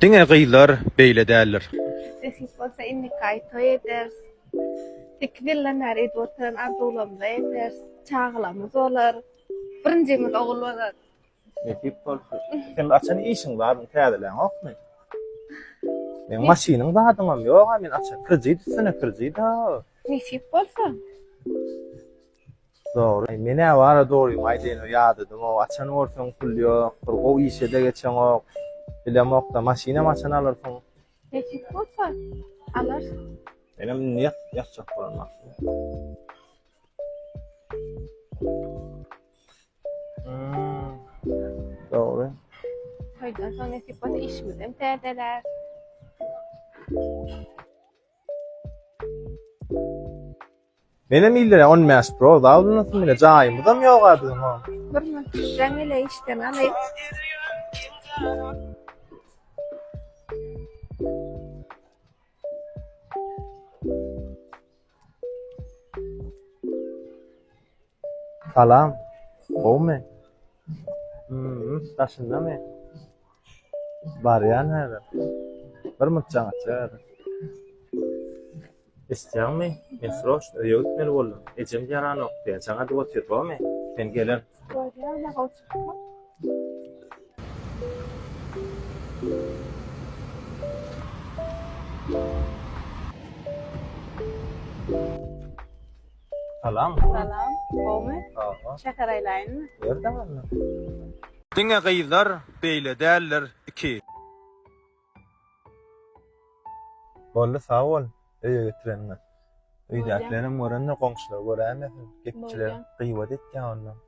Diňe gyzlar beýle däldir. Nesip bolsa innikaý toý ederis. Sekiz ýyldan bäri edip oturan arzuwlarymyzy ederis. Çagalarymyz bolar. Birinjimiz ogul bolar. Nesip bolsa. Seň açan işiň bar, ony täzeläňokmy? Meň maşynyň zadyňam ýog-a, men açan kredit üstüne kredit-a. Nesip bolsa. Dogry. Aý men ä bara dogrymy aýdaýyn ýadadymok açan gorseň pul ýok bir gowy işede geçeňok bilemokda maşynam açan alyrsyň. Nesip bolsa alarsyň. Menem indi ýat ýatjak bolan wagtym. Dogry. Toýdan soň nesip bolsa işimizem täzeler. Menem ille on bäş pro zaudunasym bile jaýymyzam ýoga biziň o. Birine düşseň ile işden alyp. Salam. Gowmy? Hmmm, daşyndamy? Barýan häzir. Bir munç jaň atjak häzir. Eşitýäňmi? Men sroçno öýe gitmeli boldum. Ejem ýaranok diýýär. Jaň adyp otyr, gowmy? Men gelen. Barýan-a, gowy çykma. Salam. Salam. Gowmy? Gowy. Şeker aýlaýynmy? Ýerde galdy. Diňe gyzlar beýle däldir iki. Boldy sag bol öýe getireniňe. Öýdäkilerem görende goňşular göräýmesin gepçiler gyýbat etýär onda.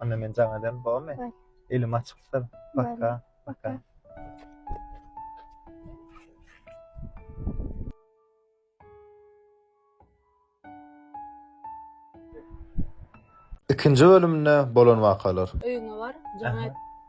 Onda men jaň ederim, bolmy? Elim açykdyr. Paka, paka. Ikinji bölümde bolan wakalar. Öýüňe bar, jaň et.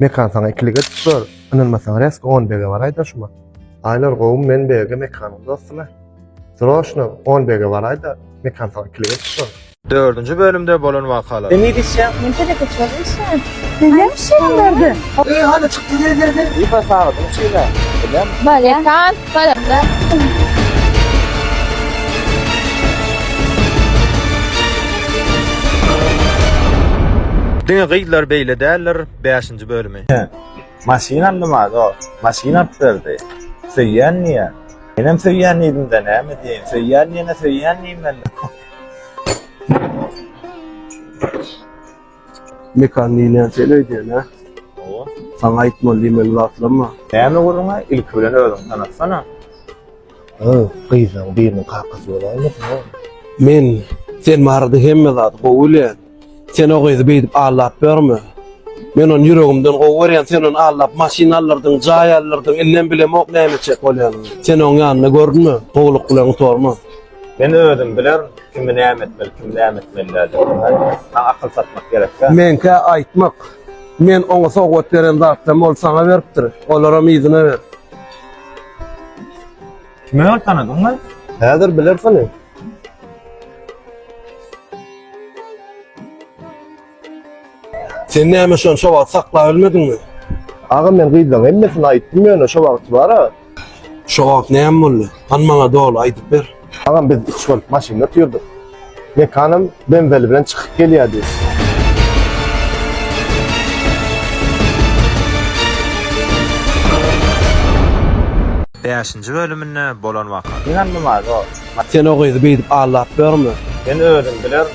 Mekan saňa ikilik edip gör. Ynanmasaň resk 10 bege baraýda şuma. Aýlar gowmy men bege mekanyň dostuna. Zroşno 10 bege baraýda mekan saňa ikilik edip gör. Dördünji bölümde bolan wakalar. Sen ne diýseň? Men telekeçiler diýseň. Sen näme işleýäň bu ýerde? Eý, hany çykdy, gel, gel, gel. Ipa sagatyn içinde. Bilen. Bale. Mekan. Diňe gyzlar beýle däldir bäşinji bölümi. Hä. Maşyn aldyma dost. Maşyn alyp berdi. Söýýän diýýä. Menem söýýän diýdimde näme diýeýin. Söýýän diýene söýýän diýmeli. Mekan diýilýän sen öýdýän hä? Hawa. Saňa aýtmaly diýmeli zatlamma. Näme gürrüň-ä? Ilki bilen özüňi tanatsana. Hä, gyzlaň biriniň kakasy bolaýmasyn o? Men, sen barada hemme zady gowy bilýän. Sen o gyzy beýdip aldap ýörme. Men ony ýüregimden gowy görýän, sen ony aldap maşyn alyrdyň, jaý alyrdyň, indem bilemok näme etjek bolýanyny. Sen oň ýanynda gördünmi? Gowulykly oňa sorma. Men özüm bilerin kimi näme etmeli kimi näme etmeli däl diyip saňa akyl satmak gerekkä. Meňkä aýtmak. Men oňa sowgat beren zatlarymy ol saňa beripdir. Olaram yzyna ber. Kimi öl tanadyň lan? Häzir bilersiň. Sen näme şonça wagt saklap bilmediňmi? Aga men gyzlaň hemmesini aýtdym ýöne şo wagty bara. Şo wagt näme boldy? Han maňa doly aýdyp ber. Agam biz üç bolup maşynda otyrdyk. Mekanym benzeli bilen çykyp gelýärdi. Bäşinji bölüminde bolan waka. Ynanmaz o. Sen o gyzy beýdip aldap bilermi? Men özüm bilerin.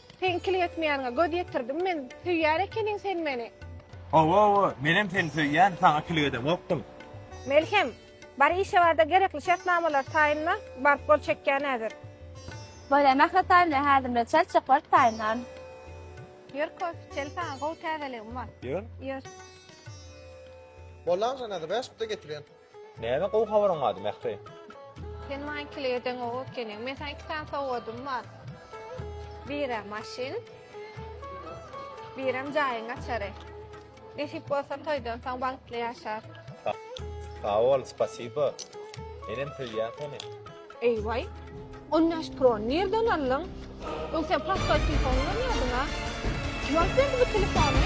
Seň kil ýetmeýäniňe göz ýetirdim men, söýýän ekeniň sen meni. Hawa-hawa, menem seni söýýän, saňa kil gedemokdym. Melhem, bar işe bar-da gerekli şertnamalary taýynla, baryp gol çekýän häzir. Bolýa, Mähri taýynla häzir bilen çel çek baryp taýynlan. Ýör Kof, çel saňa gowy täzeligim bar. Ýör. Ýör. Bolýa agşam häzir bäş bite getirýän. Näme gowy habaryň bardy, Mähri? Sen maňa ikili gedeň gowy ekeniň. Men saňa iki sany sowgadym bar. Biri maşyn, birem jaýyň açary. Nesip bolsa toýdan soň bagtly ýaşarys. Sag bol, spasiba. Menem söýýän seni. Eý waý. On bäş pro ny nirden aldyň? Öň sen prostoý telefon ulanýardyň a? Kim alyp berdi bu telefony?